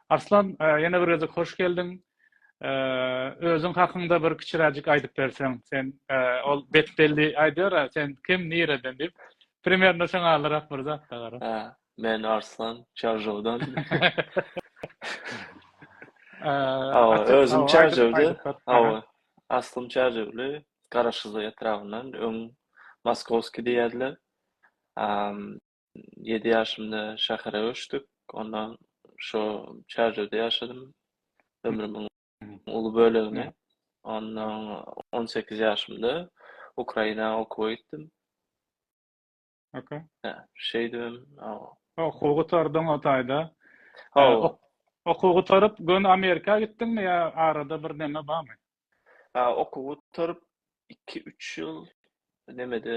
Arslan ýene bir gezek hoş geldiň. Özüň hakyňda bir kiçiräjik aýdyp berseň, sen ol betbelli aýdýar, sen kim, nireden diýip. Primerno şoňa alyrak bir zat da gara. Hä, men Arslan, Çarjowdan. Hawa, özüm Çarjowda. Hawa, aslym Çarjowly, Garaşsyzlyk etrabyndan, öň Moskowskiý diýerdiler. ýedi ýaşymda şähere göçdük. Onda şo Çärjewde ýaşadym ömrümiň uly bölegini. Onda on sekiz ýaşymda Ukraina okuwa gitdim. Okey. Hä, şeýdibem. Okuw gutardyň o taýda. Hawa. Okuw gutaryp, göni Amerika gitdiňmi ýa arada bir näme barmy? Ha, okuw gutaryp, iki-üç ýyl nemede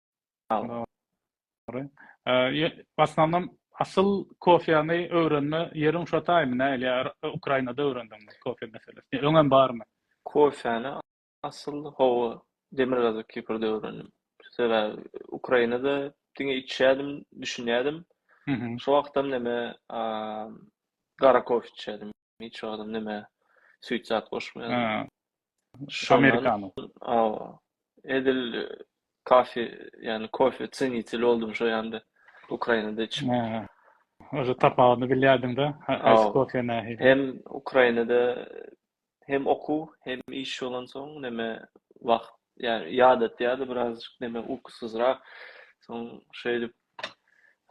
Dogry. Başlanam asyl kofýany öwrenme ýeriň şo taýmy nähili ýa Ukrainada öwrendiňmi kofýa meselesini? Öňem barmy? Kofýany asyl hawa Demirgazyk Kiprde öwrendim. Sebäbi Ukrainada diňe içýädim, düşünýädim. Şo wagtam neme gara kofe içýädim. hiç wagtym näme süýt zat goşmaýardym. Amerikano. Awa. Edil kafe, ýagny kofe çeniteli boldum şo ýanda. Ukrainada içip. Oje tapawudyny bilýärdiň-de, haýsy kofe nähili? Hem Ukrainada hem okuw, hem iş bolansoň näme wagt, ýagny ýadatýardy birazajyk näme ukusyzrak. Soň şeýdip,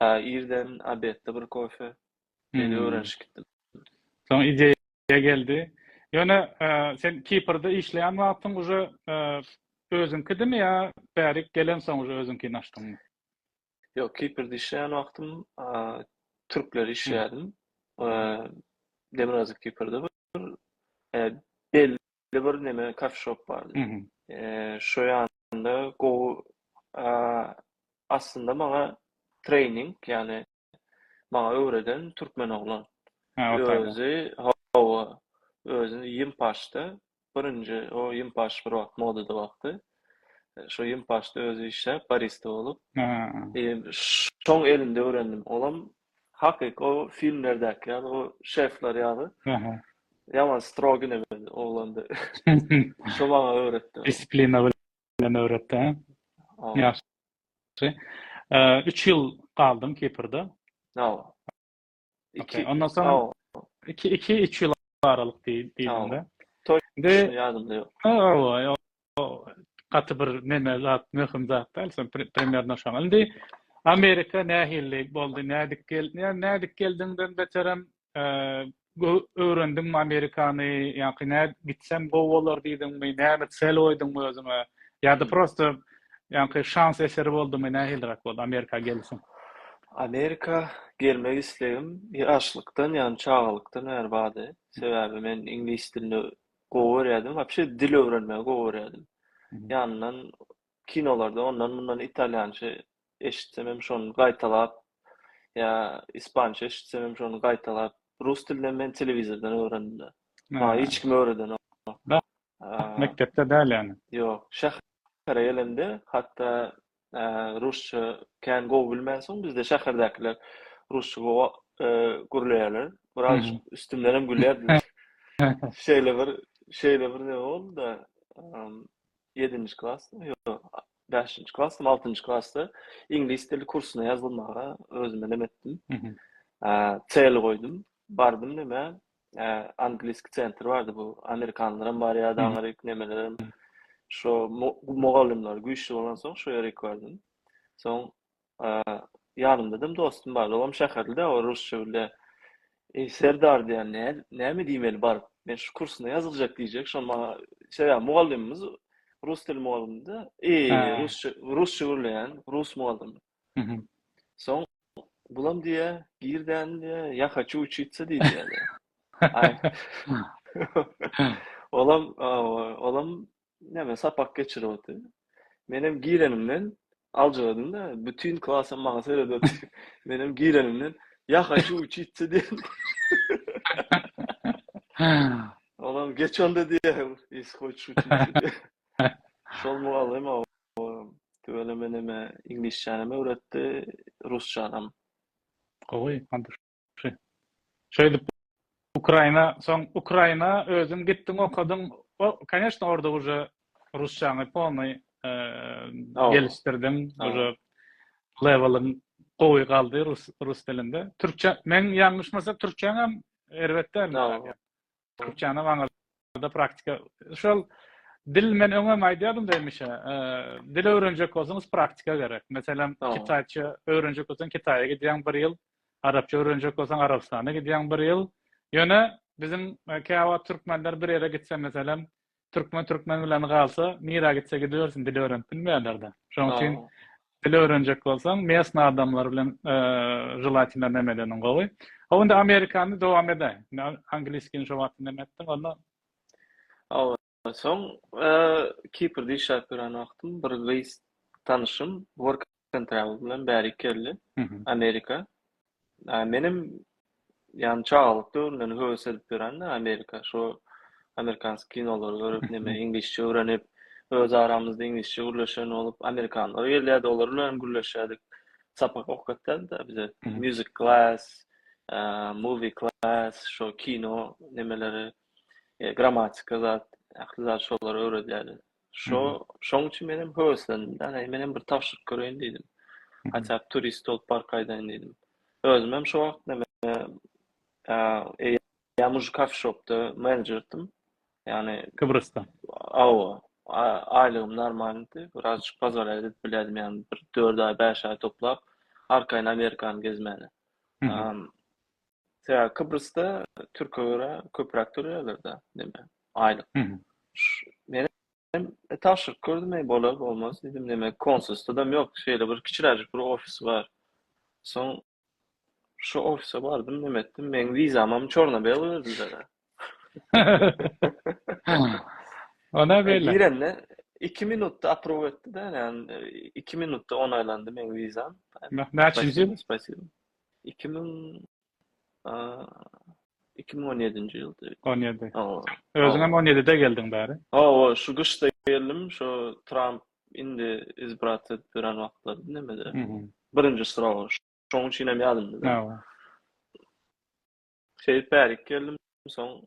ha irden obedde bir kofe. Şeýle öwrenişip gitdim. Soň ideýa geldi. Ýöne sen Kiprde işleýän wagtyň uje özüňkidimi ýa bärik gelensoň uje özüňkini açdyňmy? Ýok, Kiprde işleýän wagtym türkler işleýärdim. Demirgazyk Kiprde bir belli belli bir neme kafeşop bardy. Şo ýanda gowy aslynda maňa treýning, ýagny maňa öwreden türkmen oglan. Özi hawa, özi Ýimpaşda birinji o Ýimpaş bir wagt modada wagty. Şo Ýimpaşda özi işläp barista bolup. Şoň elinde öwrendim. Olam Hakyky o filmlerdäki ýaly o şefler ýaly. Aha. Ýaman strogi nebeli oglanda. Şo maňa öwretdi. Disiplina bilen öwretdi. Ýagşy. Ýagşy. Üç ýyl galdyň Kiprde. Hawa. Iki. Ondan soň iki, iki, üç ýyl aralyk diýdiňde. Toýşuny ýadymda ýok. Hawa, O gaty bir neme zat, möhüm zat däl, sen primernno şoň. Indi Amerika nähili boldy, nädip geldi? Ýa nädip geldiňden beterem, öwrendiňmi Amerikany, ýa-ki nä gitsem gowy bolar diýdiňmi, näme sel goýduňmy özüňe? Ýa-da prosta ýa-ki şans eseri boldumy, nähiliräk boldy Amerika gelişiň? Amerika gelmek islegim ýaşlykdan, ýagny çagalykdan bäri bardy. Sebäbi men iňlis dilini gowy görýärdim. Wapşe dil öwrenmegi gowy görýärdim. Ýanyndan kinolarda ondan-mundan italýança eşitsem hem şony gaýtalap ýa ispança eşitsem hem şony gaýtalap, rus dilini hem men telewizordan öwrendim-de. Maňa hiç kim öwredenok. Mekdepde däl ýaly. Ýok, şähere gelemde hatda rusça kän gowy bilmänsoň bizde şäherdäkiler rusça gowy gürleýärler biraz üstümden hem gülýärdiler şeýle bir şeýle bir ne boldy da ýedinji klas beşinji klas altinji klasda iňlis dili kursuna ýazylmaga özüme nem etdim çel goýdum bardym neme Angliski sentr bardy bu. Amerikanlaram bar ya da Amerik nemelerem. Şo mugallymlar güýçli bolan soň şo ýere ekwardim. Soň ýanymda dem dostum bar. Olam şäherlide o rusça bile. Ey Serdar diýen ne näme diýmeli bar. Men şu kursuna ýazylacak diýjek. Şo maňa şeýle ya mugallymymyz rus dil mugallymydy. Ey rusça rusça gürleýän rus mugallym. Soň Gulam diýýä, Gir däni diýýä, ýa haçu uçitsa diý diýýä. Aý. Olam, olam näme sapak geçirip otyr. Menem girenimden aljyradym-da, bütin klasam maňa seredip otyr. Menem girenimden, Ýa haçu uçitsa diýen. Olam geç onda diýýä, ýesi hoçu uçitsa diýýä. Şol mugallym o tüweleme meneme iňlisçänem öwretdi, rusçanam. Gowy, Andrşy. Şeýdip Ukraina, soň Ukraina özüň gitdiň okadyň. O, koneşno, orda uje rusçaňy polnoý gelişdirdiň, uje leweliň gowy galdy rus rus dilinde. Türkçe, men ýalňyşmasam türkçäňem erbet dälmi? türkçäni maňada praktika şol dil men öňem aýdýardym da hemişe e, dil öwrenjek bolsaňyz praktika gerek meselem kitaýça öwrenjek bolsaň kitaýa gidýäň bir ýyl arapça öwrenjek bolsaň arabystana gidýäň bir ýyl ýöne biziň e, käwa türkmenler bir ýere gitse meselem Türkmen Türkmen bilen galsa, nirä gitse gidibersin, dil öwrenip bilmeýärler-de. Şonuň üçin dil öwrenjek bolsaň, mesna adamlar bilen želatina neme edeniň gowy. Hawa indi amerikany dowam edäý. Angliskini şo wagt neme etdiň onda? Hawa, soň Kiprde işläp ýören wagtym bir gyz tanyşym work Stephen Travel bilen bärik geldi. Amerika. Menem ýan çagalyk döwrümden höwes edip ýören-de Amerika. Şo amerikansk kinolary görüp, näme iňlisçe öwrenip, öz aramyzda iňlisçe gürleşen bolup, amerikanlar gelýärdi, olar bilen hem gürleşýärdik. Sapak okatýardy-da bize. Music class, movie class, şo kino nemeleri, grammatika zat, ähli zat şolar öwredýärdi. Şo, şoň üçin men hem höweslendim. Ýagny men hem bir tabşyryk göreýin diýdim. Haçan mhm. turist bolup bar gaýdaýyn diýdim. Özüm hem şo wagt näme eee ýa muž kafe shopda menedžerdim. Ýagny Kybrysta. Awa. Aýlygym normaldi. Birazjyk bazar edip bilerdim ýagny bir 4 aý, 5 aý toplap arkaýyn Amerikany gezmäne. Mhm. Sebäbi Kyprysda türke görä köpräk töleýärler-dä, näme, aýlyk. Men hem tabşyryk gördüm, eý, bolar, bolmaz diýdim, näme, konsulstwodam ýok, şeýle bir kiçiräjik bir ofis bar. Soň şu ofise bardym, näme etdim, meň wizamam çorna-bela berdiler-ä. Ona e, beýle. Girende 2 minutda approve etdi de, yani 2 minutda onaylandy men vizam. Näçinji ýyl? Spasibo. 2000 2017-nji ýylda. 17. Özüň hem 17-de geldiň bäri. Hawa, şu gyşda geldim, şu Trump indi izbrat etdiren wagtlar nemede. Birinji sıraw. Şoň üçin hem ýadymda. Hawa. Şeýdip bärik geldim. Soň,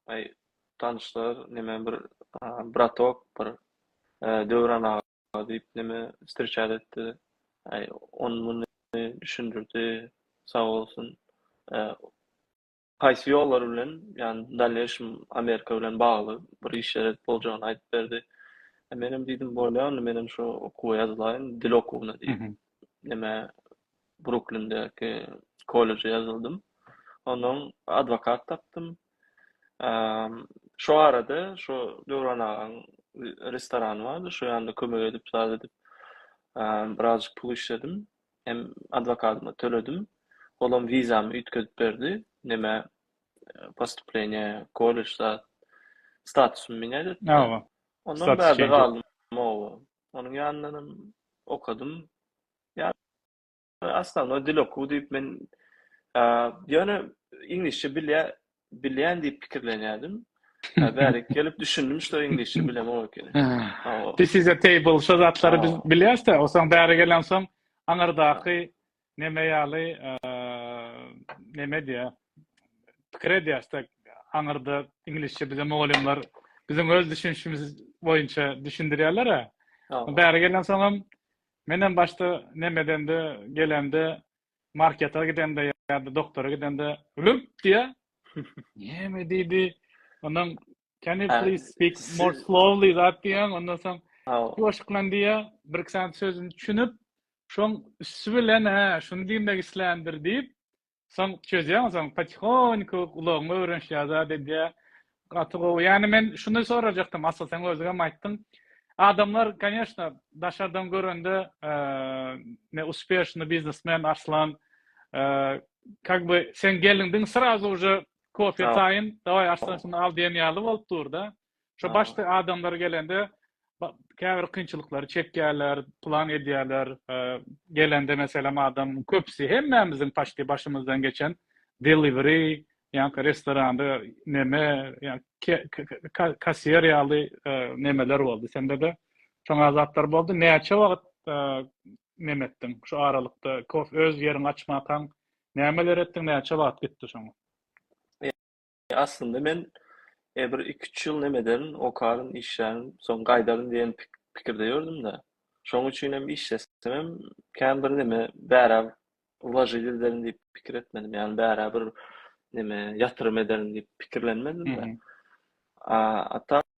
aý, tanyşlar, neme bir bratok, bir Döwran aga diýip neme stirçat etdi. Aý, ony muny düşündirdi. Sag bolsun. Haýsy ýollar bilen, ýagny dalneýşym Amerika bilen bagly bir işler edip boljagyny aýdyp berdi. Menem diýdim, bolýa onda menem şu okuwa ýazylaýyn, dil okuwyna diýip. Neme Bruklindäki kolleje ýazyldym. Onnoň adwokat tapdym. Şo arada şo Döwran agaň restorany bardy, şo ýanda kömek edip, zat edip, birazjyk pul işledim. Hem adwokatyma töledim. Olam wizamy üýtgedip berdi. Nämä postupleniýa, kollej zat, statusymy minýat etdi. Ondan bärde galdym. Onuň ýanyndanam okadym. Ýagny основnoý dil okuw diýip men ýöne iňlisçe bilýän bilýän diýip pikirlenýärdim. Bärik gelip düşündim şo iňlisçe bilemok ekeni. This is a table şo zatlary biz bilýäs-de, osaň bäri gelensoň aňyrdaky neme ýaly neme diýýär? Pikir edýäs-de aňyrda iňlisçe bize mugallymlar biziň öz düşünişimiz boýunça düşündirýärler-ä. Bäri gelensoňam Menem başda nemedende gelende marketa gidende ýa-da doktora gidende lüp diýýär. Näme diýdi? Ondan can you please speak more slowly zat diýýän. Ondan soň ýuwaşyklan diýýär. Bir-iki sany sözüni düşünip, şoň üsti bilen hä, şuny diýmek isländir diýip, Soň çözýäň, soň patihonyku gulagyňa öwrenişýär zat edýär. Gaty gowy. Ýani men şuny sorajakdym, Asl sen özüňem aýtdyň. Adamlar koneşna daşardan görende ne uspýeşny biznesmen Arslan kak by sen gelindiň srazu uje kofe taýyn daway Arslan şuny al diýen ýaly bolup durda. Şo başda adamlar gelende käbir kynçylyklary çekýärler, plan edýärler. Gelende meselem adam köpüsi hemmämiziň paçti başymyzdan geçen delivery, ýa-da restoranda neme, ýa-da kassiýer ýaly nemeler boldy. Sende-de şoňa zatlar boldy. Näçe wagt neme etdiň? Şu aralykda öz ýeriňi açmakaň nämeler etdiň, näçe wagt gitdi şoňa? Aslynda men bir iki-üç ýyl nem ederin, okaryn, işlärin, soň gaýdaryn diýen pikirde ýördüm-de. Şonuň üçinem işlesemem kän birneme bärä wlažit ederin diýip pikir etmedim. Ýagny bärä bir neme ýatyrym ederin diýip pikirlenmedim-de. A tak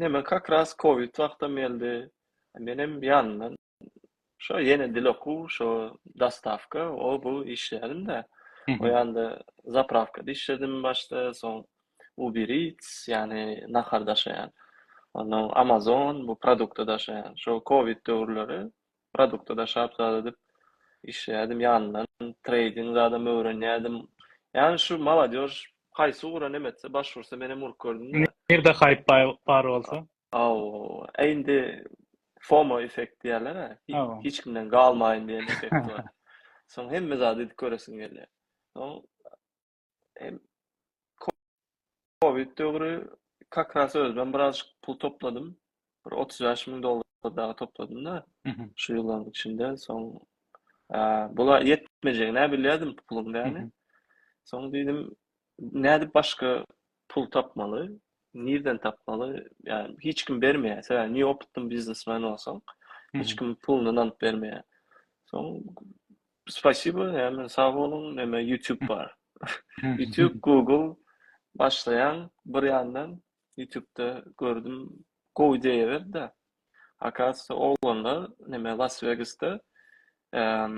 Neme kak ras kowid wagtam geldi. Menem ýanyndan şo ýene dil okuw, şo dostawka, o bu işleýädim-de. O ýanda zaprawkada işledim başda, soň ubiric, ýagny nahar daşaýan. Onnoň amazon, bu produkty daşaýan. Şo kowid döwürleri Produkta daşap zat edip işleýärdim ýanyndan treýding zadam öwrenýärdim. Ýani şu molodež haýsy ugra nem etse baş ursa menem urup gördüm-de. Nirde haýp bar bolsa. Aw, a indi FOMO effekt diýýärler-ä, hiç kimden galmaýyn diýen effekt bar. Soň hemme zady edip göresiň gelýär. Soň Hem Covid döwri kakras özüm biraz pul topladym. Bir 35 ming dollar daha topladım da şu yılların içinde son bula yetmeyecek ne biliyordum pulum yani. Son dedim ne edip başka pul tapmaly, nirden tapmaly, yani hiç kim bermeýär. Sebäbi ne opytly biznesmen bolsaň, hiç kim puluny nanyp bermeýär. Soň spasibo, yani sag boluň, näme YouTube bar. YouTube, Google başlaýan bir ýandan YouTube'da gördüm, gowy ideýa berdi. Akasda oglanlar näme Las Vegasda eee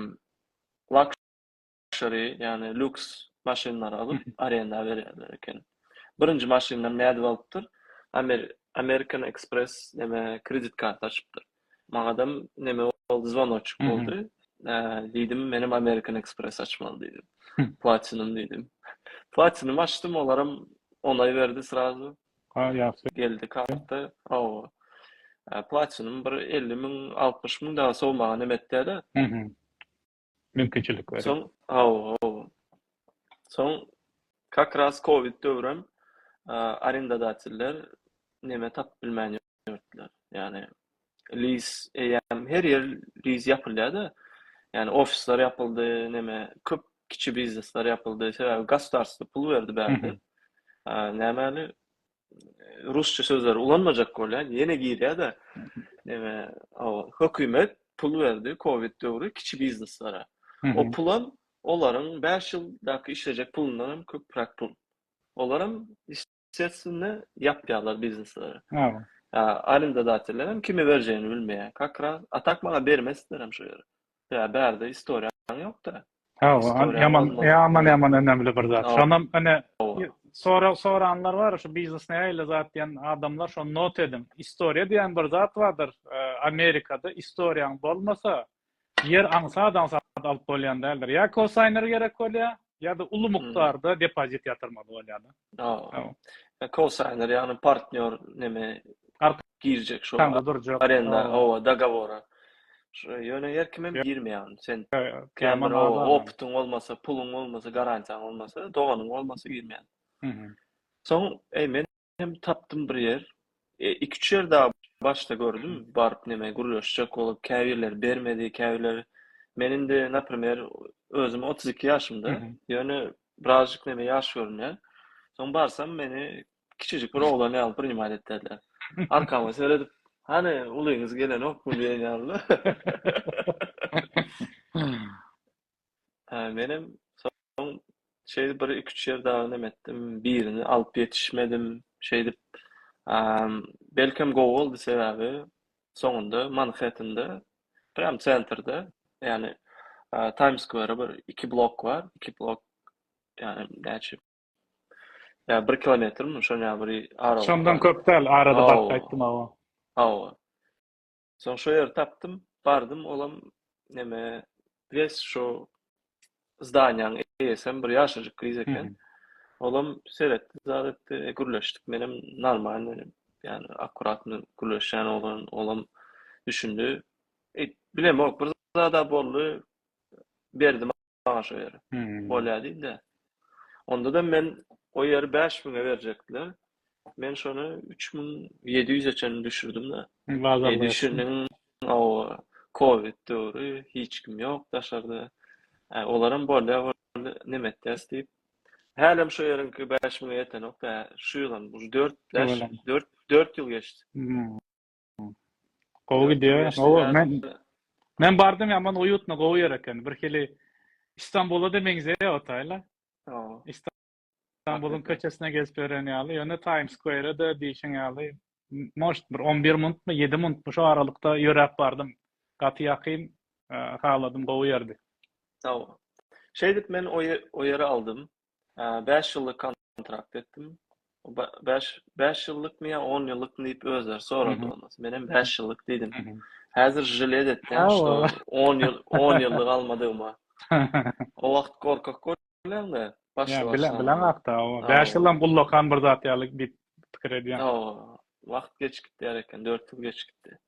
Luxury, ýagny lýuks maşynlary alyp, arenda berýärler eken. Birinji maşynynam nädip alypdyr? Amer American Express neme kredit karty açypdyr. Maňadam neme boldy, zwonoçyk boldy. Diýdim, menem American Express açmaly diýdim. Platinum diýdim. Platinum açdym, olaram onay berdi srazu. Ha, ýagşy. Geldi karta. Hawa. Platinum bir elli müň, altmyş müň dagy sowmaga nemetýä-de. mümkinçilik berýär. Soň, hawa, hawa. Soň kak raz covid döwrem arendadatiller neme tapyp bilmän ýörtdiler. Ýagny liz eýýäm her ýer liz ýapylýar-da. Ýagny ofisler ýapyldy, neme köp kiçi biznesler ýapyldy. Sebäbi gosdarstwo pul berdi bärde. Nämäli rusça sözleri ulanmajak bolýan ýene girýär-de neme hökümet pul berdi covid döwri kiçi bizneslara. O pulam olaryň 5 ýyldaky işlejek pulundan hem köpräk pul. Olaram ýestwesnne ýapýarlar biznesleri. Arendadateller hem kime berjegini bilmeýär. Kakra atak maňa bermesdiler hem şo ýeri. Ýa bärde istoriýaň ýokda. Hawa, ýaman, ýaman, ýaman önemli bir zat. Şonam ine sorag soranlar bar, şu biznes nähili zat diýen adamlar şony not ediň. Istoriýa diýen bir zat bardyr. Amerikada istoriýaň bolmasa, ýer aňsat-aňsat alyp bolýan däldir. Ýa kosaýner gerek bolýar, ýa-da uly mukdarda depozit ýatyrmaly bolýar-da. Kosaýner, ýagny partnýor näme girjek şo arenda oba dogowora. Ýöne her kim hem girmeýär. Sen opytyň bolmasa, puluň bolmasa, garantiýaň bolmasa, doganyň bolmasa girmeýär. Soň, eý, men hem tapdym bir ýer. E, iki-üç ýer dagy başda gördüm, baryp neme gürleşjek bolup, käbirleri bermedi, käbirleri Men indi, naprimer, özüm otuz iki ýaşymda, ýöne birazjyk neme ýaş görünýär. Soň barsam, meni kiçijik bir oglan ýaly priнимat etdiler. Arkama seredip, Hany, ulyňyz gelenokmy diýen ýaly. Hä, menem soň şeýdip bir iki-üç ýer dagy neme etdim, birini alyp ýetişmedim. Şeýdip, belkem gowy boldy, sebäbi soňunda Manhettende, prýam sentrde, ýagny Taýms skwerä bir iki blok bar, iki blok, ýagny näçe, ýa bir kilometrmi, şoň ýaly bir aralyk bar. Şondan köp däl, arada baryp gaýtdym, hawa. Hawa. Soň şo ýeri tapdym, bardym, olam neme, wes şo zdaniýanyň eýesi hem bir ýaşajyk gyz eken. Olam seretdi, zat etdi, e, gürleşdik. Menem normal menem, ýani akkuratny gürleşýän oglan, olam düşündi. E, bilemok, bir zada boldy. Berdim bagşa ýeri. Bolýar diýdi. Onda-da men o ýeri 5000-e berjekdiler. Men şony 3700-e çenli düşürdim-de. Bazar düşürdiň. Hawa, covid döwri, hiç kim ýok daşarda. Olaram bolýar, näme etýäs diýip. Hälem şo ýeriňki 5000-e ýetenok-da, şu ýylam, ujy dört, dört, dört ýyl geçdi. Gowy gidýär. Gowy. Men men bardym ýaman uýutna gowy ýer eken. Bir hili Istanbula da meňzeýär otaýla. Hawa. Istanbulyň köçesine gezip ýören ýaly. Ýöne Times Square-de diýşiň ýaly moşt bir 11 minutmy, 7 minutmy şu aralykda ýöräp bardym. Gaty ýakyn haladym, gowy ýerdi. Hawa. Şeýdip men o ýeri aldym. bäş ýyllyk kontrakt etdim. Bäş, bäş ýyllykmy ýa on ýyllykmy diýip özleri sorady ondan. Men hem bäş ýyllyk diýdim. Häzir žile etdim, şo on ýyl, on ýyllyk almadygyma. O wagt gorkak bolýaňda, başda başda. Bilen, bilen hakda, o. Bäş ýyllam gullakan bir zat ýaly diýip pikir edýän. Wagt geç gitýär eken, dört ýyl geç gitdi.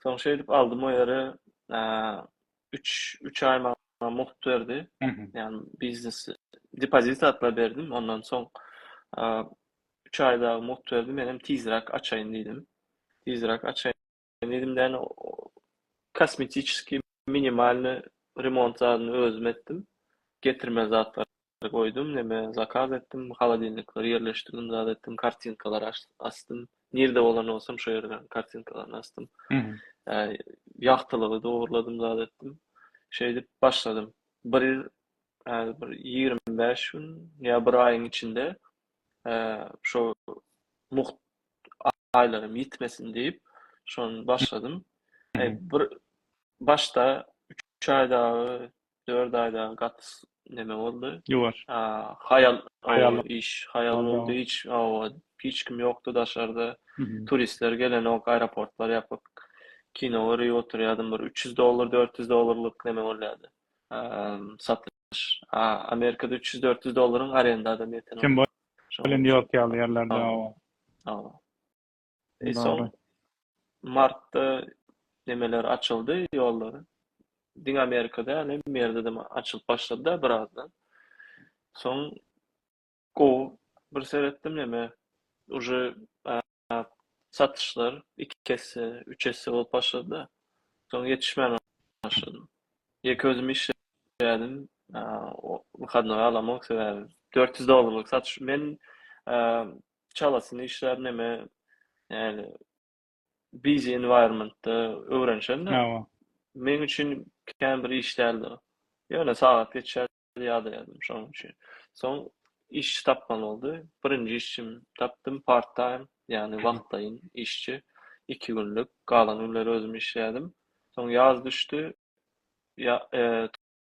Soň şeýdip aldym o ýeri, üç üç aý maňa mugt berdi. Ýani biznes depozit satla berdim. Ondan soň üç aý dagy mugt berdi. Men hem tizräk açaýyn diýdim. Tizräk açaýyn diýdim. Däne kosmetiçeskiý minimalny remont zadyny özüm etdim. Getirme zatlary Goýdum neme zakaz etdim holodilnikleri ýerleşdirdim zat etdim kartinkalar asdym nirde bolan bolsam şo ýerleriň kartinkalaryny asdym ýagtylygy dogruladym zat etdim şeýdip başladym bir häzir bir ýigrimi bäş gün ýa bir aýyň içinde şo mugt aýlarym ýitmesin diýip şony başladym bir başda üç aý dagy dört aýda gaty neme boldy. Ýuwaş. Haýal, haýal iş, haýal boldy. Hiç, hawa, hiç kim ýokdy daşarda. Turistler gelenok, aeroportlar ýapyk. Kino görüp oturýadym. Bir üç ýüz dollar, dört ýüz dollarlyk neme bolýardy. Satyş. Amerikada üç ýüz, dört ýüz dollaryň arenda adam ýeten. Kim bolsa indi ýok ýaly ýerlerde, hawa. Hawa. Soň martda nemeler açyldy ýollar. Diňe Amerika däl, hemme ýerde açylyp başlady-da birazdan. Soň gowy bir seretdim neme, uje satyşlar iki esse, üç esse bolup başlady-da. Soň ýetişmän başladym. Ýeke özüm işleýärdim. Wyhadnoý alamok sebäbi dört ýüz dollarlyk satyş. Men çalasyny işlär neme yani busy environmentda öwrenşen de men üçin kän bir iş däldi ýöne sagat geçer ýada ýazdym şonuň üçin soň iş tapmaly boldy birinji işim tapdym part time yani wagtlaýyn işçi iki günlük galan günleri özüm işleýärdim soň ýaz düşdi ya e,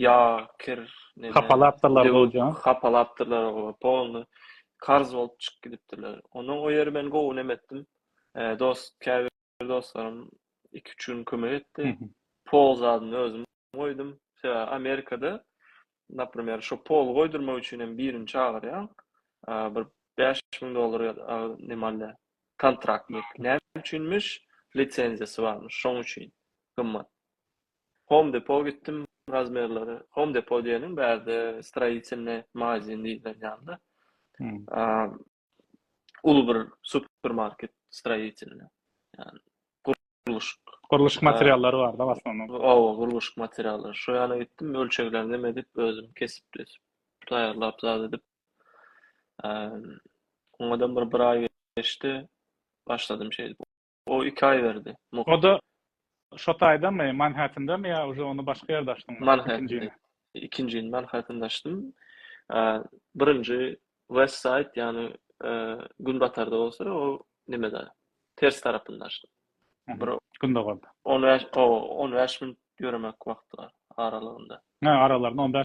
ýa kir neme hapalapdyrlar goja hapalapdyrlar goja polny karz bolup çykyp gidipdirler ondan o ýeri men gowy neme etdim e, dost käbir dostlarym iki üç gün kömek etdi pol zadyny özüm goýdum sebäbi amerikada например şu pol goýdurmak üçin hem birini çagyrýaň bir beş müň dollar nimale kontraktnik näme üçinmiş lisenziýasy barmyş şoň üçin gymmat Home Depot gitdim razmerleri Home Depot diýeniň bärde stroýitelne magazin diýlen ýaly. Uly bir supermarket stroýitelne. Ýani gurluşyk gurluşyk materiallary bar-da basmanyň. Owa, gurluşyk materiallary. Şo ýana gitdim, ölçeglerini näme edip, özüm kesip, taýýarlap zat edip. Oňadan bir bir aý geçdi. Başladym şeýdip O iki aý berdi. O-da şo taýdamy, Manhettendami ýa uje ony başga ýerde açdyňmy? Manhettende. Ikinjini Manhettende açdym. Birinji West Side, ýagny günbatarda bolsa, o nimede, ters tarapynda açdym. Bir gündogarda. On bäş, o, on bäş minut ýöremek wagty bar aralygynda. Hä, aralarynda on bäş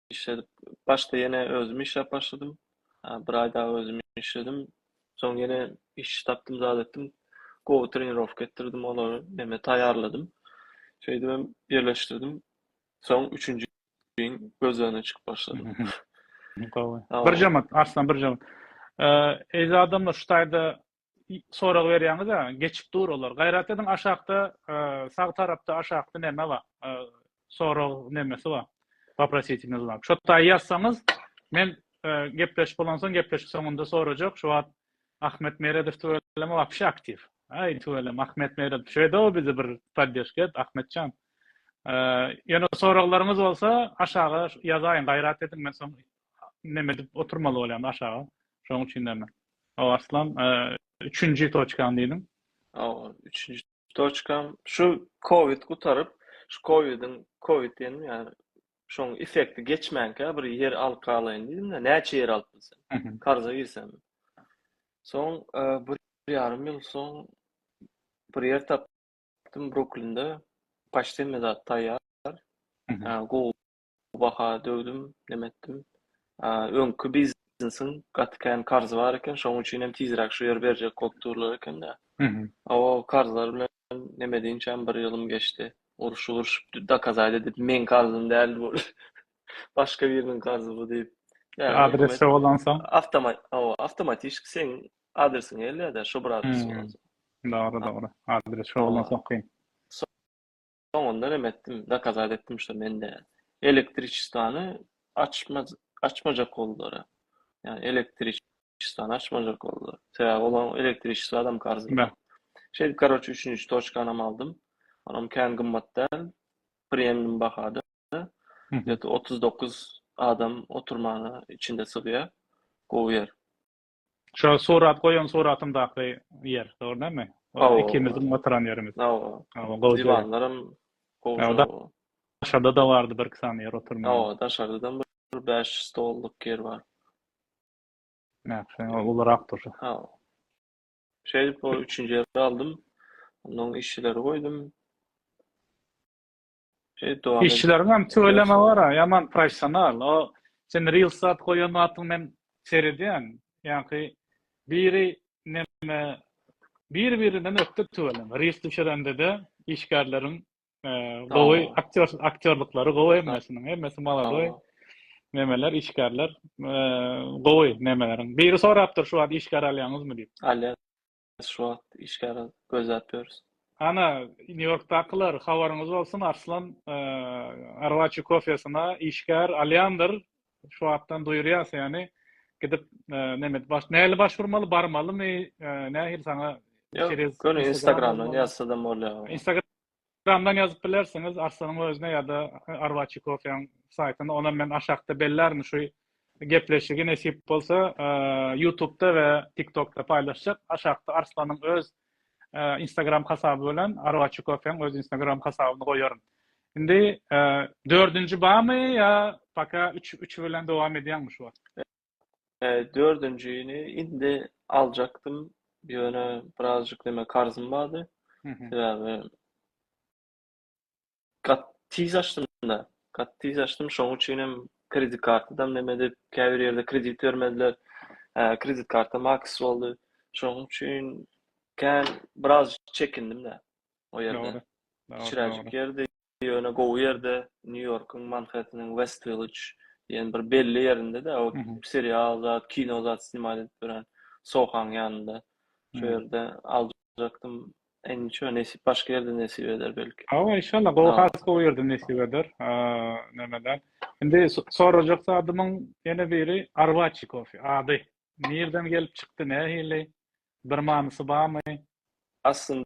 işledip, başda ýene özüm işläp başladym. Bir aý dagy özüm işledim. Soň ýene iş tapdym, zat etdim. Gowy trenirowka etdirdim olary, neme taýýarladym. Şeýdip hem ýerleşdirdim. Soň üçünji ýylyň gözlegine çykyp başladym. Gowy. Birje minut, Arslan, birje minut. Eziz adamlar, şu taýda sorag berýäňiz a geçip dur olar gaýrat ediň aşakda e, sag tarapda aşakda näme bar e, sorag nämesi bar waprositimiz bar şo taý ýazsaňyz men e, gepleşip bolansoň gepleşik soňunda sorajak şu wagt ahmet meredow tüweleme wapşe aktiw aý tüwelem ahmet meredow şeýde o bizi bir poddeşka et ahmetjan ýöne soraglaryňyz bolsa aşaga ýazaýyň gaýrat ediň men soň Neme edip oturmaly bolýan aşaga. Şoň üçin näme. O Aslan, üçünji toçkaň diýdiň. Hawa, üçünji toçkam. Şu covid gutaryp, şu covidiň, covid diýenim ýa şoň effekti geçmänkä bir ýer alyp galaýyn diýdim-de, näçe ýer alyp bilsem. Karza girsem. Soň bir ýarym ýyl soň bir ýer tapdym Bruklinde. Paçtemizat taýýar. Google Bu baha döwdüm, neme etdim. Öňki biznesiň gaty kän karzy bar eken, şonuň üçin hem tizräk şu ýeri berjek bolup durlar eken-dä. A o karzlar bilen neme edinçäm bir ýylym geçdi. Urşup-urşup dokazaýda diýip, meň karzym däldi bu. Başga biriniň karzy bu diýip. Adresi bolansoň? Hawa, awtomatişki seň adresiňe gelýär-dä, şo bir adres bolansoň. Dogry, dogry. Adresi bolansoň kyn. Soňundan em etdim, dokazat etdim şo men däl. Elektriçestwany açmaz açmajak boldular-a. Ýani elektriçestwany açmajak boldular. Sebäbi olaň elektriçestwa adam karzy. Bä. Şeýdip karoçe üçünji toçkanam aldym. Onam kän gymmat däl. Premium bahada. Mhm. Ýa-da otuz dokuz adam oturmana içinde sygýar. Gowy ýer. Şo surat goýan suratymdaky ýer, dogry näme? Hawa. Ikimiziň oturan ýerimiz. Hawa. Hawa, gowy. Diwanlarym gowy. Daşarda da bardy bir iki sany ýer oturmaga. Hawa, daşarda-da bir bäş stollyk ýer bar. Nähili, ol ulurak dur. Hawa. Şeýdip, ol üçünji ýeri aldym. Onuň işçileri goýdum. Işleriň hem tüweleme bar, ýaman professional. O sen reels zat goýan wagtyň men seredýän. Ýaňky biri näme bir birinden ökde tüweleme. Reels düşerende-de işgärleriň gowy aktýor aktýorlyklary gowy hemmesiniň. Hemmesi maladoý. Nemeler işgärler gowy nemeleriň. Biri sorapdyr şu wagt işgär alýaňyzmy diýip. Alýas. şu wagt işgäre gözläp ýörüs. Ana, New Yorkdakylar, habaryňyz bolsun, Arslan Arwaçi Kofesyna işgär alýandyr. Şu wagtdan duýurýas, ýagny gidip näme, nähili baş urmaly, barmalymy, nähili saňa Ýok, göni Instagramdan ýazsadam bolýar. Telegramdan ýazyp bilersiňiz Arslanyň özüne ýa-da Arwaçi kofeýiň saýtyna. Onam men aşakda bellärin şu gepleşigi nesip bolsa Ýutubda we Tiktokda paýlaşjak. Aşakda Arslanyň öz Instagram hasaby bilen Arwaçi kofeýiň öz Instagram hasabyny goýaryn. Indi dördünji bamy ýa paka üç üç bilen dowam edýäňmi şu wagt? Dördünjini indi aljakdym, ýöne birazjyk näme karzym bardy. Sebäbi gat tiz açdym-da, gat tiz açdym, şonuň üçin hem kredit kartydam näme edip, käbir ýerde kredit bermediler. Kredit karta maks boldy. Şonuň üçin kän biraz çekindim-de o ýerde. Kicirejik ýerdi. Ýöne gowy ýerde, Nýu-Ýorkuň Manhetteniň West Willidge diýen bir belli ýerinde-de, o serial zat, kino zat snimat edip ýören Sohaň ýanynda. Şo ýerde aljakdym. Ençe nesip başga ýerde nesip eder belki. Hawa, inşallah, gowy has gowy ýerde nesip eder. Nämeler. Indi sorajak zadymyň ýene biri Arwaçi kofe ady. Nirden gelip çykdy, nähili? Bir manysy barmy? Aslynda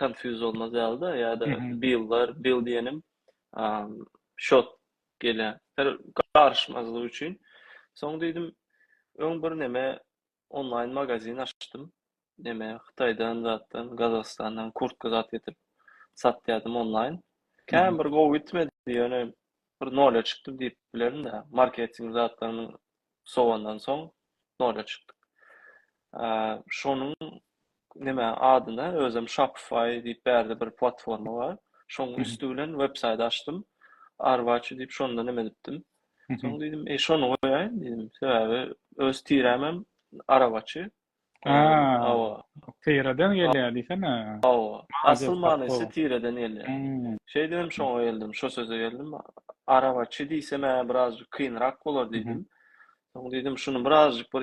konfýuz bolmaz ýaly-da ýa-da bil bar, bil diýenim şot gelýär. Her garyşmazlyk üçin. Soň diýdim, öň bir neme onlaýn magazin açdym. Neme Hytaýdan zatdan, Gazagystandan kurtka zat getirip satýardym onlaýn. Kän bir gowy gitmedi, ýöne bir nolýa çykdym diýip bilerin-dä. Marketing zatlarynyň sowandan soň nola çykdyk. Şonuň näme adyna özüm Shopify diýip bärde bir platforma bar. Şoň üsti bilen web saýt açdym. Arwaçy diýip şonda näme edipdim. Soň diýdim, "Eý şony goýaýyn" diýdim. Sebäbi öz tirämem arawaçy, Hawa. Tireden gelýär diýsene. Hawa. Asyl manysy tireden gelýär. Şeýdibem şoňa geldim, şo söze geldim. Arabaçy diýsem-ä birazjyk kynrak bolar diýdim. Soň diýdim, şuny birazjyk bir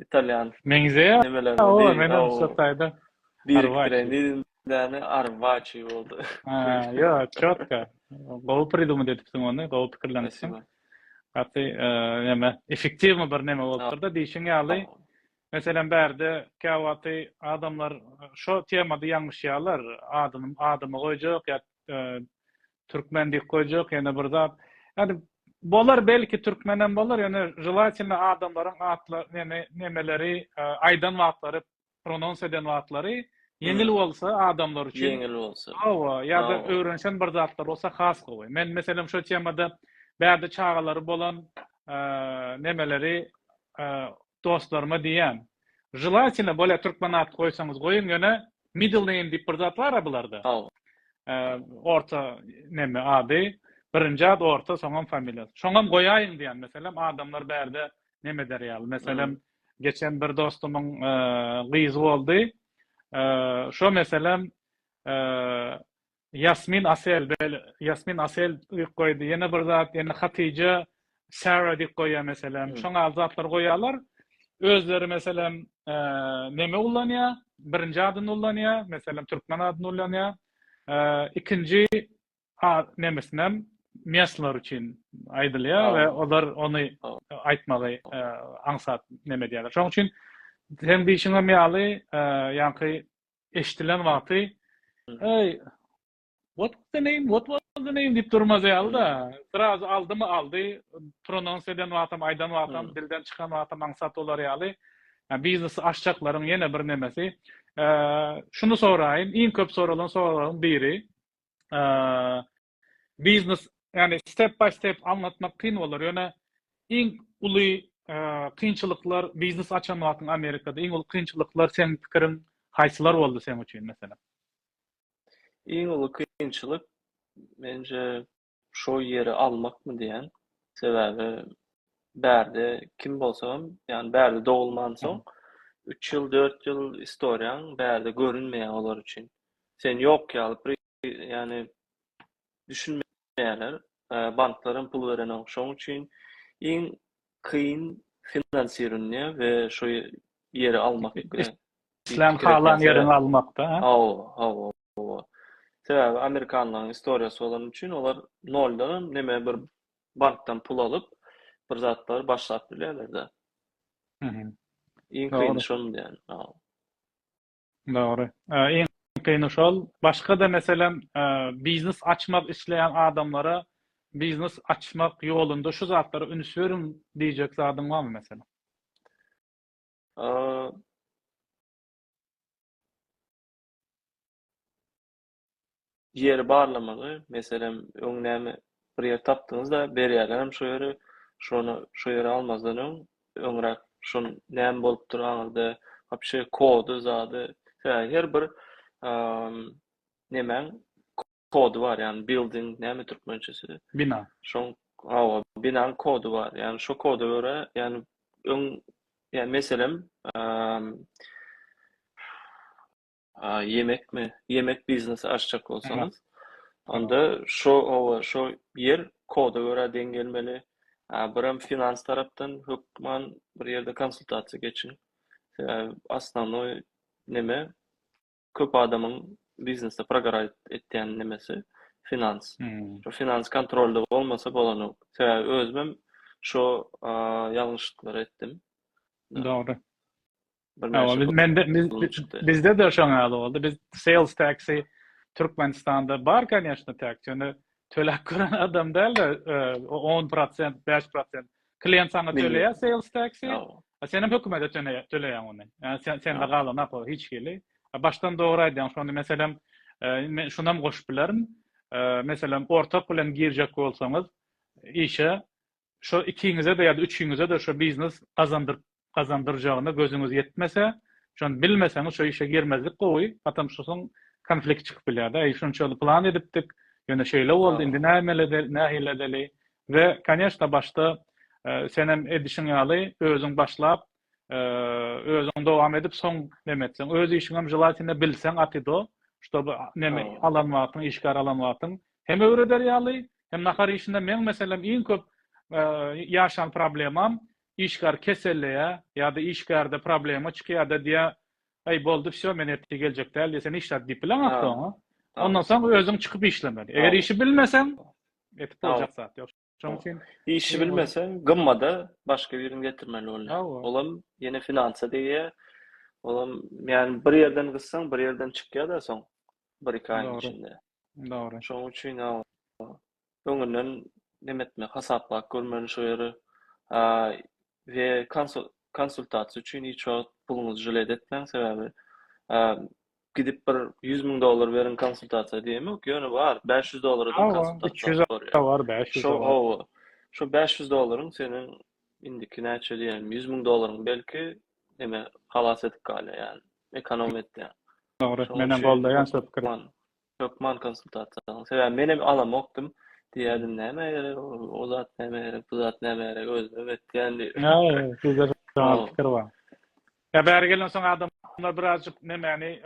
italýan nemelerine deýin. Birikdireýin diýdim. Däne arbaçi boldy. Ýok, çotga. Gowy pridumit edipsiň ony, gowy pikirlenipsiň. Gaty näme effektiwmi bir näme bolupdyr-da diýşiň ýaly. Meselem bärde käwagty adamlar şo temada ýalňyşýarlar. Adyny adymy goýjak ýa türkmen diýip goýjak ýene bir zat. Ýani bolar belki türkmenem bolar ýöne želatelno adamlaryň atla näme nämeleri aýdan wagtlary pronons eden zatlary ýeňil bolsa adamlar üçin ýeňil bolsa hawa ýa-da öwrenişen bir zatlar bolsa has gowy men meselem şo temada bärde çagalary bolan nemeleri dostlaryma diýýän želательно bolýa türkmen at goýsaňyz goýuň ýöne middle name diýip bir zat bar-a bularda orta neme ady birinji ad orta soňam familiýa şoňam goýaýyň diýýän meselem adamlar bärde neme eder ýaly meselem Geçen bir dostumyň gyzy boldy. Şo meselem Ýasmin Asel, Ýasmin Asel diýip goýdy. Ýene bir zat, ýene Hatyja Sara diýip goýýar meselem. Şoň ýaly zatlary goýýarlar. Özleri meselem neme ullanýar? Birinji adyny ullanýar, meselem türkmen adyny ullanýar. Ikinji nemesinem mesler üçin aýdylýar we olar ony aýtmagy aňsat neme edýärler. Şonuň üçin sen diýşiňem ýaly, ýaňky eşidilen wagty hey what was the name what was the name diýip durmaz ýaly-da. Biraz aldymy aldy, pronons eden wagtam, aýdan wagtam, dilden çykan wagtam aňsat bolar ýaly. Yani biznes aşçakların yine bir nemesi. Ee, şunu soraýyn, iň köp soralan soralaryň biri. biznes yani step by step anlatmak kyn bolar. Yöne iň uly kynçylyklar biznes açan wagtyň Amerikada iň uly kynçylyklar seň pikiriň haýsylar boldy sen üçin mesela? Iň uly kynçylyk mence şo ýeri almakmy diýen. Sebäbi bärde kim bolsam, yani bärde dogulman soň 3 ýyl, 4 ýyl istoriýaň bärde görünmeýär olar üçin. Sen ýok ýaly pri ýany düşünmeýärler. Banklaram pul berenok şoň üçin iň kyn finansirunýe we şo ýeri almak pikiri. Islen halan ýeriňi almakda hä? Hawa hawa hawa. Sebäbi amerikanlaň istoriýasy bolan üçin olar noldanam neme bir bankdan pul alyp bir zatlar başlap bilerlerde. Iň kyny şonda ýani. Dogry. Iň kyny şol. Başga-da meselem, biznes açmak isleýän adamlara biznes açmak ýolunda şu zatlara üns beriň diýjek zadyň barmy meselem? ýeri barlamagy, meselem, öň näme bir ýer tapdyňyz-da, berýärlerem şo ýeri, şony şo ýere almazdan öň, öňräk şonuň näme bolupdyr aňyrda, wapşe kody, zady, sebäbi her bir nemäň kody bar, ýagny bilding näme türkmençesi? Bina. Şoň, hawa, binaň kody bar, ýagny şo koda görä, ýagny öň, ýa meselem, A ýemekmi? Ýemek biznesi açjak bolsaňyz, onda şo oba, şo ýer koda görä deň gelmeli. A birem finans tarapdan hökman bir ýerde konsultasiýa geçiň. Sebäbi osnovnoý neme köp adamyň biznesde progoraýt etýän nemesi finans. Şo finans kontrolda bolmasa bolanok. Sebäbi özümem şo ýalňyşlyklary etdim. Dogry. Bizde de şoň ýaly boldy. Biz sales taksi Türkmenistanda bar, kanyýaşna, taksi. Ýöne töläp gören adam däl-de, 10%, 5% klient sana töleýär sales taksi. A sen hem hökümete töleýäň ony. Ýa sen sen de galan apa hiç hili. A başdan dogry aýdýaň, şonda meselem, men şuny hem goşup bilerin. Meselem, ortak bilen girjek bolsaňyz işe, Şo ikiňize-de ýa-da üçiňize-de şo biznes gazandyryp gazandyrjagyna gözüňiz ýetmese, şony bilmeseňiz şo işe girmezlik gowy, patam şosaň konflikt çykyp bilýär-de, eý şunça ýyl plan edipdik, ýöne şeýle boldy, indi näme nähili edeli we, koneşna, başda senem edişiň ýaly özüň başlap, özüň dowam edip soň neme etseň öz işiňem želatine bilseň atido ştoby neme alan wagtyň işgär alan wagtyň hem öwreder ýaly hem nahar işinde meň meselem iň köp ýaşan problemam işgär keselleýä ýa-da işgärde problema çykýa-da diýä aý boldy wsýo men ertir geljek däl diýe sen işläp diýip bileň atydo ondan soň özüň çykyp işlemeli eger işi bilmeseň etip boljak zat ýok Şonuň üçin işi bilmeseň, gymmada başga birini getirmeli bolýar. Olam ýene finansa degýär. Olam ýani bir ýerden gyssaň, bir ýerden çykýar-da soň bir-iki aýyň içinde. Dogry. Şonuň üçin öňünden neme etmek, hasaplap görmeli şo ýeri. We konsultasiýa üçin hiç wagt puluňyzy žlet etmäň, sebäbi gidip bir ýüz müň dollar beriň konsultasiýa diýemok ýöne bar bäş ýüz dollara da konsultasiýa bar ýa bar bäş ýüz dollar hawa şo bäş ýüz dollaryň seniň indiki näçe diýelim ýüz müň dollaryň belki eme halas edip galýar ýaly ekonom etýär dogry men hem goldaýan şo pikiri hökman konsultasiýa sebäbi men hem alamokdym diýerdim näme gerek o zat näme gerek bu zat näme gerek özüm etýän diýip ýa ýa sizde şo pikir bar Ýa bäri gelensoň adamlar birazjyk nemäni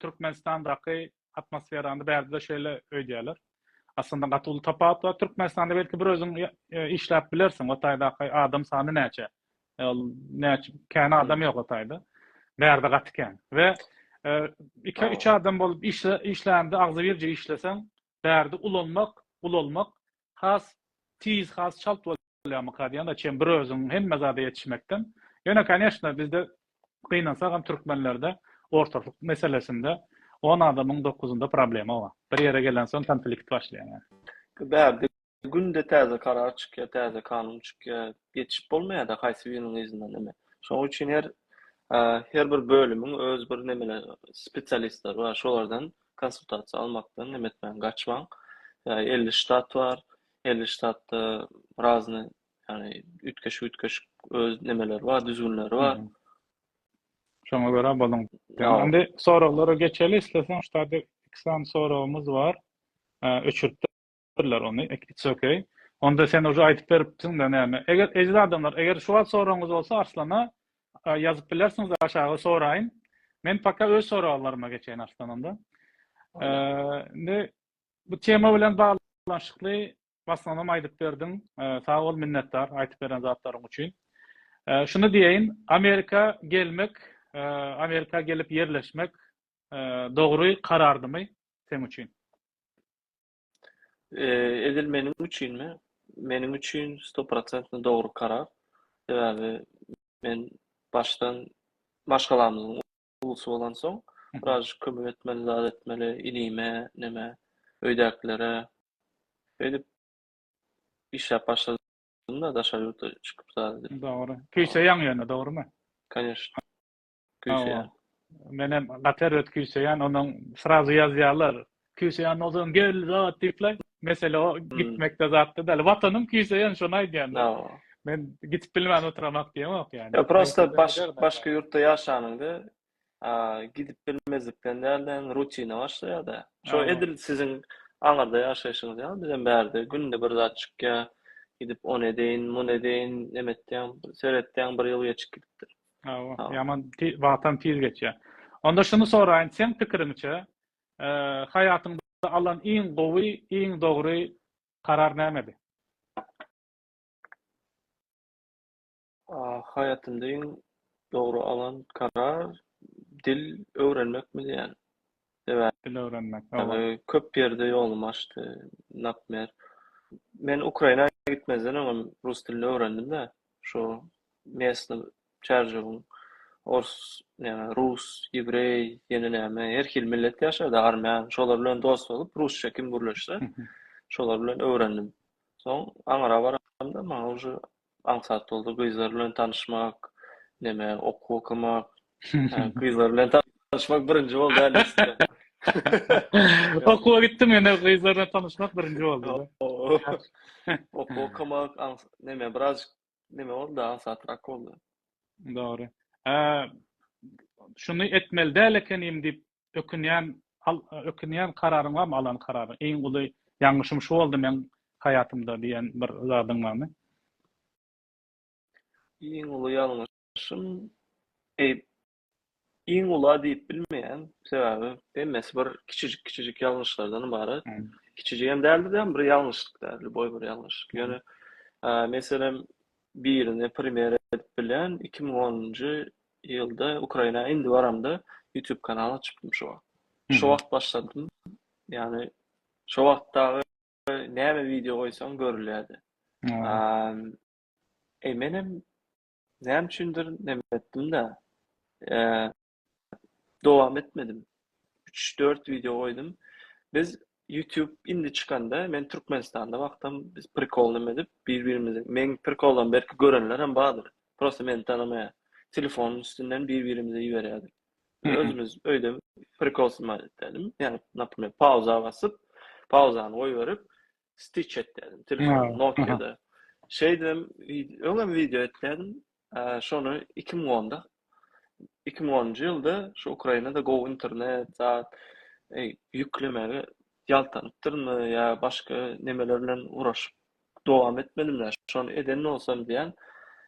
Türkmenistandaky atmosferany bärde şeýle öýdýärler. Aslynda gaty uly tapawut bar. Türkmenistanda belki bir özüň işläp bilersiň. O taýdaky adam sany näçe? Ol näçe kän adam ýok o taýda. Bärde gaty kän. We iki üç adam bolup işlände agzybirje işleseň, Bärde ulanmak, ulalmak has tiz, has çalt bolýarmyka diýýän-de çem bir özüň hemme zada ýetişmekden. Ýöne koneşna bizde gynansagam türkmenlerde ortaklyk meselesinde on adamyň dokuzynda problema bar. Bir ýere gelensoň konflikt başlaýar. Bärde Günde täze karar çykýar, täze kanun çykýar. Ýetişip bolmaýar-da haýsy biriniň yzyndan ime. Şonuň üçin her her bir bölümiň öz bir nemeleri, spesialistleri bar. Şolardan konsultasiýa almakdan neme etmäň, gaçmaň. Ýa elli ştat bar, elli ştatda razny, ýagny üýtgeşik-üýtgeşik öz nemeleri bar, düzgünleri bar. Şoňa görä boluň. Indi soraglara geçeli isleseň, şu taýda iki sany soragymyz bar. Öçürip Bildirdiler ony it's ok. Onda sen uje aýdyp beripsiň da näme. Eger eziz adamlar eger şu wagt soragyňyz bolsa Arslana ýazyp bilersiňiz aşaga soraýyň. Men paka öz soraglaryma geçeýin Arslan onda. Indi bu tema bilen baglanyşykly baslanam aýdyp berdiň. Sag bol minnetdar aýdyp beren zatlaryň üçin. Şuny diýeýin Amerika gelmek Amerika gelip ýerleşmek dogry karardymy seň üçin? Edil meniň üçinmi? Meniň üçin stoprosentno dogry karar. Sebäbi men başdan maşgalamyzyň ulusy bolansoň, biraz kömek etmeli, zat etmeli, inime, neme, öýdäkilere. Öýdüp işläp başladym-da, daşary ýurtda çykyp zat edip. Dogry. Peýçe ýaňy ýöne, dogrumy? Kanyýeşna. küýseýän. Men hem gaty erbet küýseýän, onuň srazu ýazýarlar. Küýseýän bolsaň gel zat diýipler. Mesele o gitmekde zatda däl. Watanym küýseýän şony aýdýan. Men gidip bilmän oturamak diýemok ýa. Ýa prosta başga ýurtda ýaşanyňda gidip bilmezlikden däl-de rutina başlaýar-da. Şo edil siziň aňyrda ýaşaýşyňyz ýaly bizem bärde günde bir zat çykýar. Gidip ony edeýin, muny edeýin, neme etýäň, seretýäň bir ýyl geçip gidipdir. Hawa, ýaman wagtam tiz geçýär. Onda şuny soraýyn, seň pikiriňçe, haýatyňda alan iň gowy, iň dogry karar nämedi? Haýatymda iň dogry alan karar dil öwrenmekmidi ýa? sebäbi Dil öwrenmek, hawa. köp ýerde ýolumy açdy, napmer, men Ukraina gitmezden öňem rus dilini öwrendim-de, şu mesny çärjewiň ors, näme, rus, ýewreý, ýene näme, her hili millet ýaşady, armän, şolar bilen dost bolup, rusça kim gürleşse, şolar bilen öwrendim. Soň Aňara baramda, maňa uje aňsat bolsa gyzlar bilen tanyşmak, neme, okuw okamak, gyzlar bilen tanyşmak birinji boldy hä nesli. Okuwa gitdim ýöne gyzlar bilen tanyşmak birinji boldy. Okuw okamak, neme, biraz neme boldy, aňsatrak boldy. Dogry. Şuny etmeli däl ekenim diýip ökünýän al ökünýän kararyň barmy alan kararyň iň uly ýalňyşym şu boldy meň haýatymda diýen bir zadyň barmy? Iň uly ýalňyşym eý iň ula diýip bilmeýän sebäbi hemmesi bir kiçijik kiçijik ýalňyşlardan ybarat kiçijigem däldi-de bir ýalňyşlyk däldi boý bir ýalňyşlyk ýöne meselem birini primer edip bilýän iki müň onunjy ýylda Ukraina indi baramda YouTube kanal açypdym şu wagt. Şu wagt başladym. Ýani şu wagt dagy näme video goýsaň görülýärdi. Ehm e menem näme üçindir näme etdim de ehm dowam etmedim. 3-4 video goýdum. Biz Ýutub indi çykanda men Türkmenistanda wagtam biz prikol name edip bir birimizi meň prikollarym belki görenler hem bardyr prosta meni tanamaýar telefonuň üstünden bir birimize iberýärdik özümiz öýde prikol snymat etýärdim ýagny naprmer pauza basyp pauzany goýberip stiç etýärdim telefon nokiada şeýdibem öňem wideo etýärdim Şony iki müň onda, iki müň onunjy ýylda şu Ukrainada gowy internet, zat, eý, ýüklemegi ýaltanypdyrynmy ýa başga nemeler bilen uraşyp dowam etmedimdä, şony eden bolsam diýýän,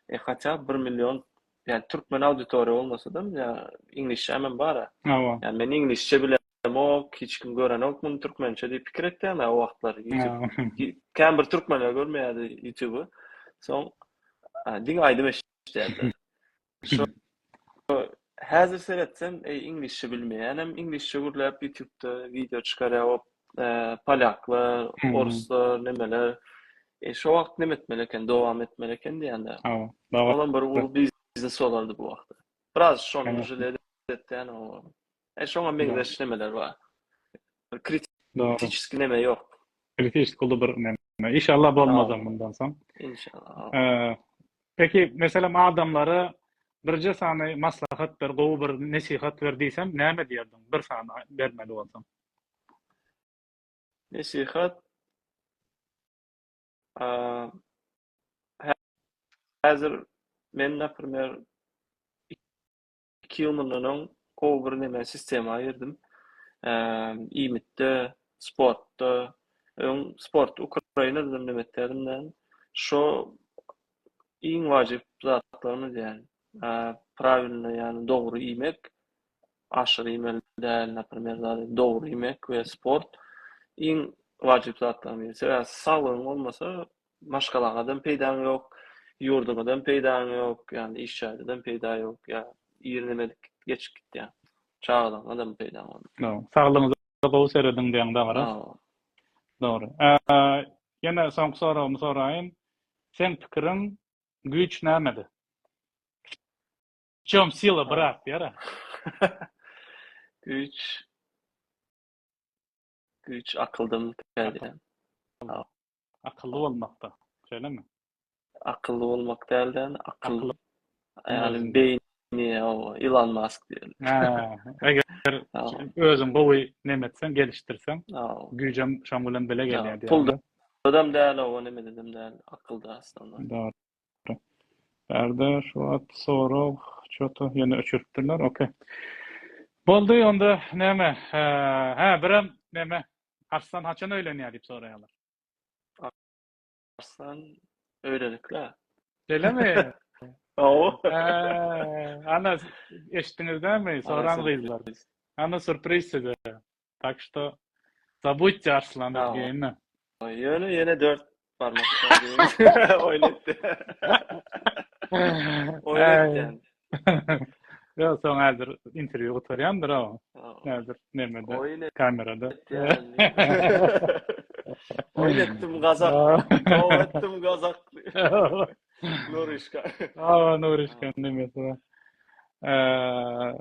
eý, haçan bir million, ýa türkmen auditoriýa bolmasa-da, ýa iňlisçämem bar-a. Ýa men iňlisçe bilen. Demok, hiç kim görenok muny türkmençe diýip pikir etýän o wagtlar YouTube. Kän bir türkmenler görmeýärdi YouTube. Soň diň aýdym eşitýärdi. Şu häzir seretsem, eý iňlisçe bilmeýän hem iňlisçe gürläp YouTube-da wideo çykarýar o polýaklar, oruslar, nemeler. E şu wagt näme etmeli eken, dowam etmeli eken diýende. Olam bir uly biznes bolardy bu wagtda. Biraz şonuň jiledi etýän o. E şoňa meňzeş nemeler bar. Kritiçki neme ýok. Kritiçki uly bir neme. Inşallah bolmazam bundan soň. Inşallah. E, peki meselem adamlara birje sany maslahat ber, gowy bir nesihat ber diýsem, näme diýerdiň? Bir sany bermeli bolsaň. Nesihat häzir men, naprimýer, Iki ýyl mundan öň gowy bir neme sistema girdim. Iýmitde, sportda, öň sport Ukrainadan neme etdim men. Şo iň wajyp zatlarymy diýen. Prawilny ýagny dogry iýmek, aşyr iýmeli däl, naprimer dogry iýmek we sport iň wajyp zatlarymy. Sebäbi saglygyň bolmasa Maşgalaňyzdan peýdaň ýok, ýurduňyzdan peýdaň ýok, ýagny iş jaýdadan peýda ýok, ýa irinimedik geçip gitýär. Çagalaryňyzdanam peýdaň bolmaz. Dogry. Saglygyňyza gowy serediň diýýäň dagyra. Hawa. Dogry. Ýene soňky soragymy soraýyn. Seň pikiriň güýç nämede? W çem sila, brat? diýer-ä. Güýç. Güýç akyldan täze. Akylly bolmakda, şeýlemi? Akylly bolmak dälde, akylly. Ýaly beýni ýa-da Elon Musk diýeli. Eger özüň gowy näme etseň, gelişdirseň, güýjem şoň bilen bile gelýär diýeli. Pul adam däl, o näme edem däl, akylda aslynda. Bärde şu wagt sorag çota ýene öçüripdirler. Okey. Boldy onda näme? Hä, birem näme? Arslan haçan öýlenýär diýip soraýarlar. Arslan öýlenikle. Şeýlemi? Aw. Ana eşitdiňizdämi? Soran gyzlar. Ana surpriz size. Tak što zabudte Arslan Ergeýni. Ýöne ýene 4 barmak diýip oýnatdy. Oýnatdy. Ýa soň häzir interwýu gutarýandyr o. Häzir nemede kamerada. Oýnatdym gazak. Oýnatdym gazak. Nurişka. Awa Nurişka nemesi. Eee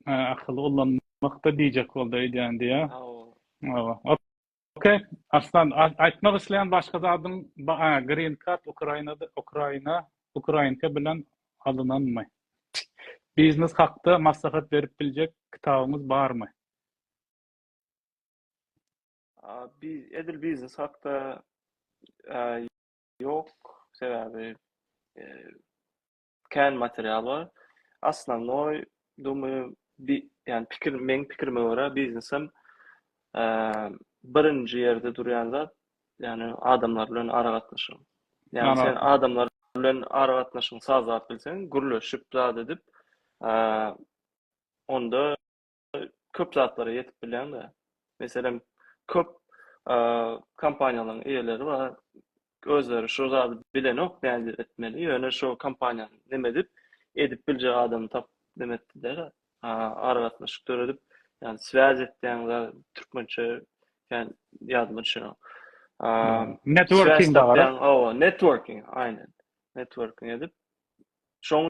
Ha, akyly ullanmakda diýjek boldy öýdýän diýä. Hawa. Okey. Arslan, aýtmak isleýän başga zadyň ba, a, green card Ukrainada, Ukraina, ukrainka bilen alynanmy? Biznes hakda maslahat berip biljek kitabyňyz barmy? A, bi, edil biznes hakda a, ýok, sebäbi e, kän material bar. Osnovnoý, dumym, bi, ýani pikir, meň pikirime görä biznesem eee birinji ýerde durýan zat, ýani adamlar bilen aragatnaşygyň. Ýani sen Ýanawsyň. adamlar bilen aragatnaşygyňy sazlap bilseň, gürleşip zat edip, eee onda köp zatlara ýetip bilýäň-de. Meselem, köp kompaniýalaryň eýeleri bar. Özleri şu zady bilenok nädip etmeli, ýöne şu kompaniýanyň neme edip, edip biljek adamy tapyp neme etdiler, aragatnaşyk döredip, ýagny swaýaz etýäň zat, türkmençe kän ýadyma düşenok. Networking-de gara. Networking, aýnan. Networking edip, şoň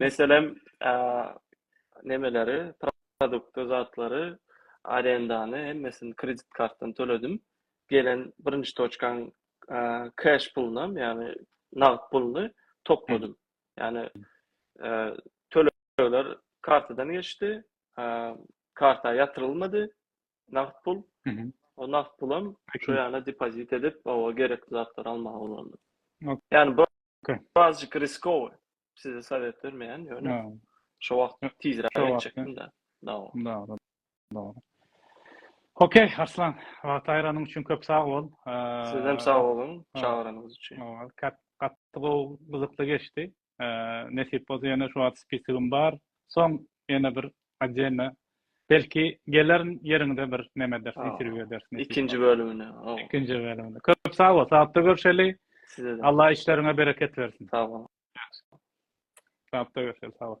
Meselem, nemeleri, produkty, zatlary, arendany hemmesini kredit kartdan töledim. Gelen birinji toçkaň keş pulunam, ýagny nagt puluny topladym. Ýagny tölegler kartadan geçdi, karta ýatyrylmady. nagt pul. O nagt pulam şu ýana depozit edip, o gerekli zatlary almaga ulandy. Ýani bu birazjyk riskowy. Size sowet bermeýän, ýöne şu wagt tizräk etjekdim-de. Dogry. Dogry. Okey, Arslan, wagty aýranyň üçin köp sag bol. Sizem sag boluň, çagyranyňyz üçin. Gaty gowy, gyzykly geçdi. Nesip bolsa ýene şu wagt spisigim bar. Soň ýene bir otdelna belki gelerin ýeriňde bir neme ederis, interwýu ederis. Ikinji bölümine. Ikinji bölümine. Köp sag bol. Sapda görşeli. Sizede. Allah işleriňe bereket bersin. Sag bol. Sapda görşeli. Sag bol.